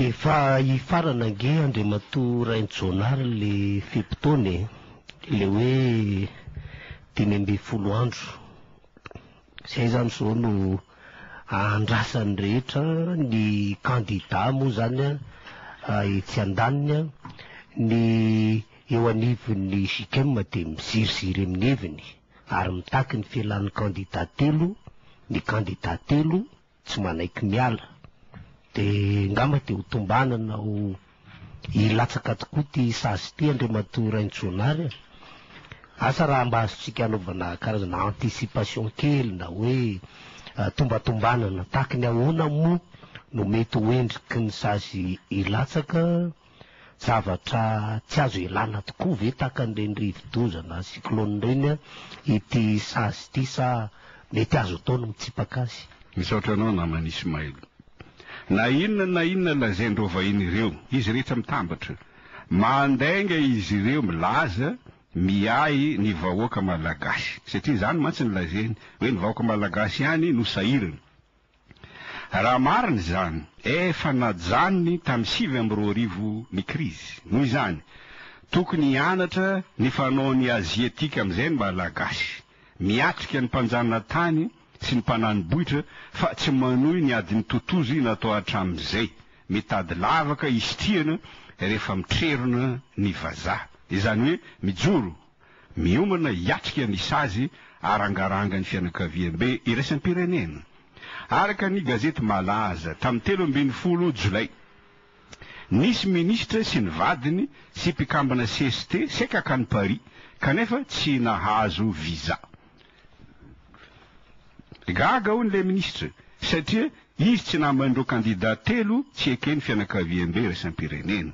Efa hifarana ange Andriamatoa Rainjonary le fe-potoana e, le hoe dimy ambin'ny folo andro. Zay zany zao no ahandrasan'ny rehetra, ny kandida moa zany etsy andaniny, ny eo anivon'ny JICM dia miziriziry amin'ny heviny. ary mitaky ny filan'ny kandida telo ny kandida telo tsy manaiky miala. Dia ngamba dia ho tombanana ho hilatsaka tokoa ity sazy ity Andriamatoa Rainjoanary a! Asa raha mba azontsika anaovana karazana anticipation kely na hoe tombatombanana, tahaky ny ahoana moa no mety ho endriky ny sazy hilatsaka? Zavatra tsy azo ialana tokoa ve tahaka an'ireny rivodoza na cyclone ireny ity sazy ity sa mety azo atao ny mitsipaka azy? Misaotra anao namana Ismail. Na inona na inona lazain'ireo vahiny ireo, izy rehetra mitambatra. Mandainga izy ireo milaza, miahy ny vahoaka malagasy. Satria izany mantsy no lazainy, hoe ny vahoaka malagasy ihany no sahirana. Raha marina izany, efa najanony tamin'ny sivy amby roa arivo ny krizy. Noho izany, tokony hianatra ny fanaon'ny Aziatika amin'izay ny Malagasy. Miatrika ny mpanjanatany sy ny mpanani-bohitra fa tsy manohy ny adin'ny totozy natao hatramin'izay. Mitady lavaka hisitrihana rehefa mitrerona ny vazaha. Izany hoe mijoro miomana hiatrika ny sazy arangarangan'ny fianakaviambe iraisam-pirenena. Araka ny gazety malaza, tamin'ny telo ambin'ny folo Jolay, nisy minisitra sy ny vadiny sy mpikambana cst saika hankany Paris kanefa tsy nahazo visa. Gaga hono ilay minisitra satria izy tsy naman'ireo kandida telo tsy eken'ny fianakaviambe iraisam-pirenena.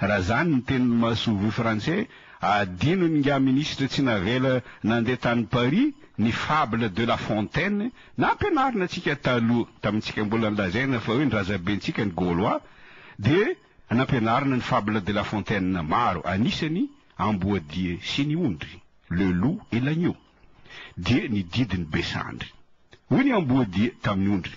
Raha zany ny tenin'i Masoivoho Frantsay, adino ny nga minisitra tsy navela nandeha tany Paris ny fable de la fontaine nampianarina antsika taloha tamintsika mbola nilazaina fa hoe ny razabentsika ny Gaulois dia nampianarina ny fable de la fontaine maro anisany Amboadia sy ny ondry, le loup et l'agneau, dia ny didin'i Besandry. Hoy ny Amboadia tamin'ny ondry.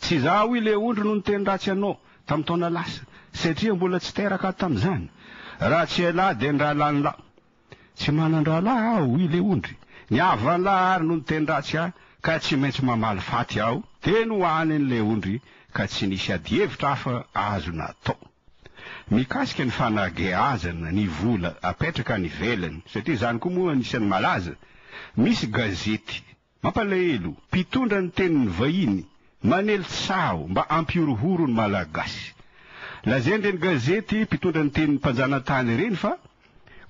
Tsy izaho hoy ilay ondry no niteny ratsy anao tamin'ny taona lasa, satria mbola tsy teraka aho tamin'izany. Raha tsy ialahy dia ny rahalahinlahy. Tsy manan-drahalahy aho hoy ilay ondry. Ny havanlahy àry no niteny ratsy ahy, ka tsy maintsy mamaly faty aho. Teny ho aniny ilay ondry, ka tsy nisy adihevitra hafa azo natao. Mikasika ny fanageazana ny vola apetraka any ivelany, satria izany koa moa anisan'ny malaza, misy gazety Mampalahelo, mpitondra ny tenin'ny vahiny, manely tsaho mba hampihorohoro ny Malagasy. Lazain'ireny gazety mpitondra ny tenin'ny mpanjanatany ireny fa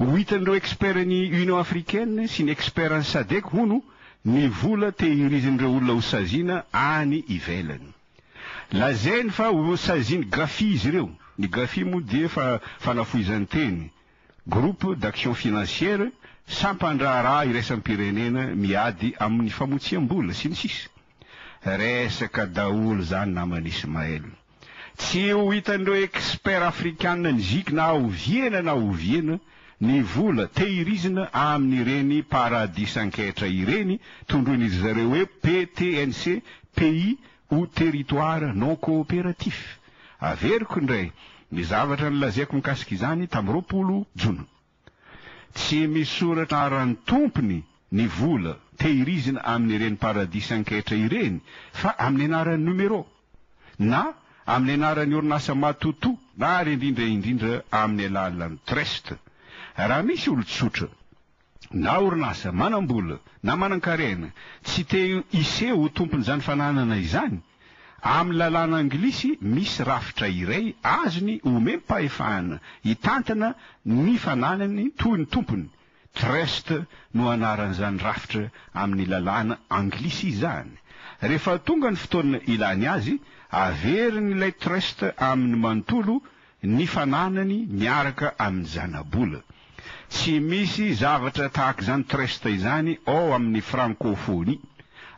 ho hitan'ireo expertn'ny Union africaine sy ny expertn'ny Sadec hono ny vola tehirizin'ireo olona hosaziana any ivelany. Lazainy fa hosazian'i Gafi izy ireo, ny Gafi moa dia efa fanafohizan-teny, Groupe d'Action Financière, Sampan-draharaha iraisam-pirenena miady amin'ny famotsiam-bola, sy ny sisa Resaka daholo zany naman'i Ismaël. Tsy ho hitan'ireo experts afrikana ny zic na oviana na oviana ny vola tehirizina amin'ireny paradisan-ketra ireny tondroin'iry zareo hoe PTNC, Pays ho territoire non coopératif. Averiko indray ny zavatra nolazaiko mikasika izany tamin'ny roapolo jona. Tsy misoratra aran'ny tompony ny vola tehirizina amin'ireny paradisa an-ketra ireny fa amin'ny anaran'ny numéro na amin'ny anaran'ny orinasa matoto ary indrindra indrindra amin'ny alalan'ny trust. Raha misy olon-tsotra. na orinasa manam-bola na manan-karena tsy te hiseho ho tompon'izany fananana izany, amin'ny lalàna anglisy misy rafitra iray azony omem-pahefana hitantana ny fananany toy ny tompony, trust no anaran'izany rafitra amin'ny lalàna anglisy izany. Rehefa tonga ny fotoana ilany azy, averin'ilay trust aminy manontolo ny fananany miaraka amin'ny zanabola. Tsy misy zavatra tahaka izany trust izany ao amin'ny frankofonia.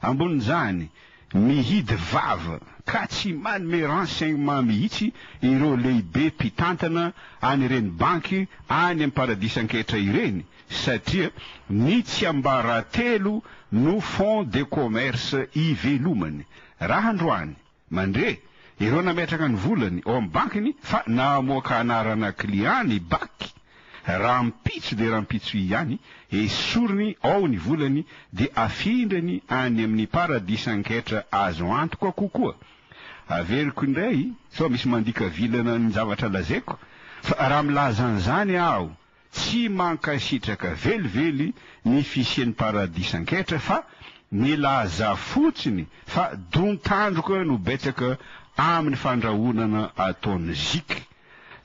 Ambonin'izany, mihidy vava ka tsy manome renseignement mihitsy ireo lehibe mpitantana an'ireny banky any amin'ny paradisa an-ketra ireny satria ny tsiambaratelo no fonds de commerce ivelomany. Raha androany. Mandre, ireo nametraka ny volany ao amin'ny bankiny fa namoaka anarana client ny baky, rahampitso dia rahampitso ihany, esoriny ao ny volany dia afindrany any amin'ny paradisan-ketra azo antoka kokoa. Averiko indray sao misy mandika vilana ny zavatra lazaiko fa raha milaza an'izany aho Tsy mankasitraka velively ny fisian'ny paradisa anketra fa milaza fotsiny fa don-tandroka no betsaka amin'ny fandrahonana ataon'ny zic.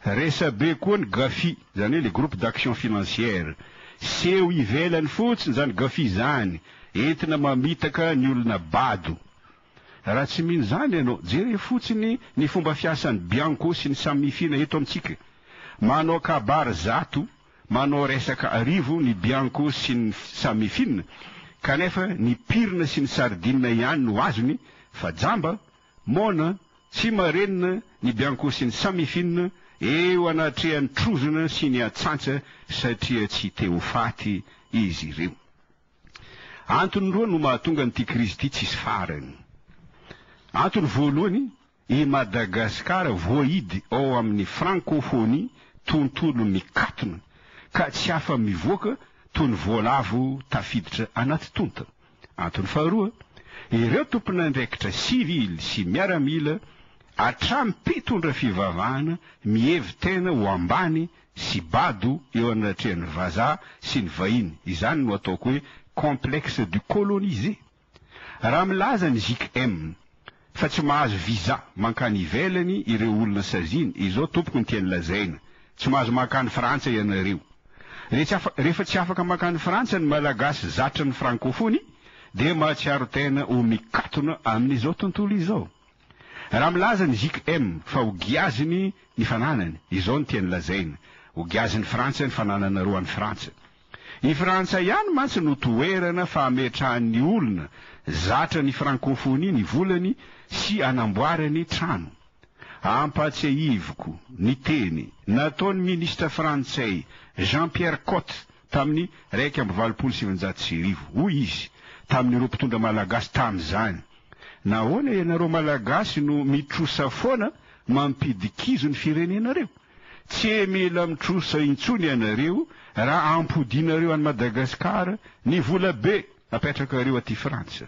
Resabe koa ny GAFI, izany hoe le groupe d'action financière. Seho ivelany fotsiny izany GAFI izany, entina mamitaka ny olona bado. Raha tsy mino izany ianao, jereo fotsiny ny fomba fiasan'ny Bianco sy ny Samifina eto amintsika. Manao kabary zato, manao resaka arivo ny Bianco sy ny Samifina, kanefa ny pirina sy ny sardinina ihany no azony, fa jamba, moana, tsy marenina ny Bianco sy ny Samifina eo anatrehan'ny trozona sy ny atsantsa satria tsy te ho faty izy ireo. Antony roa no mahatonga an'ity krizy ity tsisy farany. Antony voalohany, i Madagasikara voahidy ao amin'ny Frankôfônia tontolo mikatona ka tsy afa-mivoaka toy ny voalavo tafiditra anaty tonta. Antony faharoa, ireo tompon'andraikitra sivily sy miaramila hatramin'ny mpitondra fivavahana mihevi-tena ho ambany sy bado eo anatrehan'ny vazaha sy ny vahiny, izany no ataoko hoe complexe du colonisé. Raha milaza ny JKM fa tsy mahazo visa mankany ivelany ireo olona saziana, izao tompoko ny tiany lazaina, tsy mahazo mankany Frantsa ianareo. Rehefa tsy afaka mankany Frantsa ny Malagasy zatra ny Frankofony dia mahatsiaro tena ho mikatona amin'izao tontolo izao. Raha milaza ny JKM fa ho giaziny ny fananany, izao no tiany lazaina, Ho giazin'i Frantsa ny fanananareo any Frantsa. I Frantsa ihany mantsy no toerana fametrahan'ny olona zatra ny frankofonia ny volany sy anamboarany trano. Ampahatsiahiviko ny teny nataon'ny minisitra frantsay Jean-Pierre Cot tamin'ny iraika amby valopolo sy sivinjato sy arivo. Hoy izy tamin'ireo mpitondra malagasy tamin'izany, Nahoana ianareo Malagasy no mitrosa foana mampidikizo ny firenenareo? Tsy mila mitrosa intsony ianareo raha ampodianareo an'i Madagasikara ny volabe apetrakareo aty Frantsa.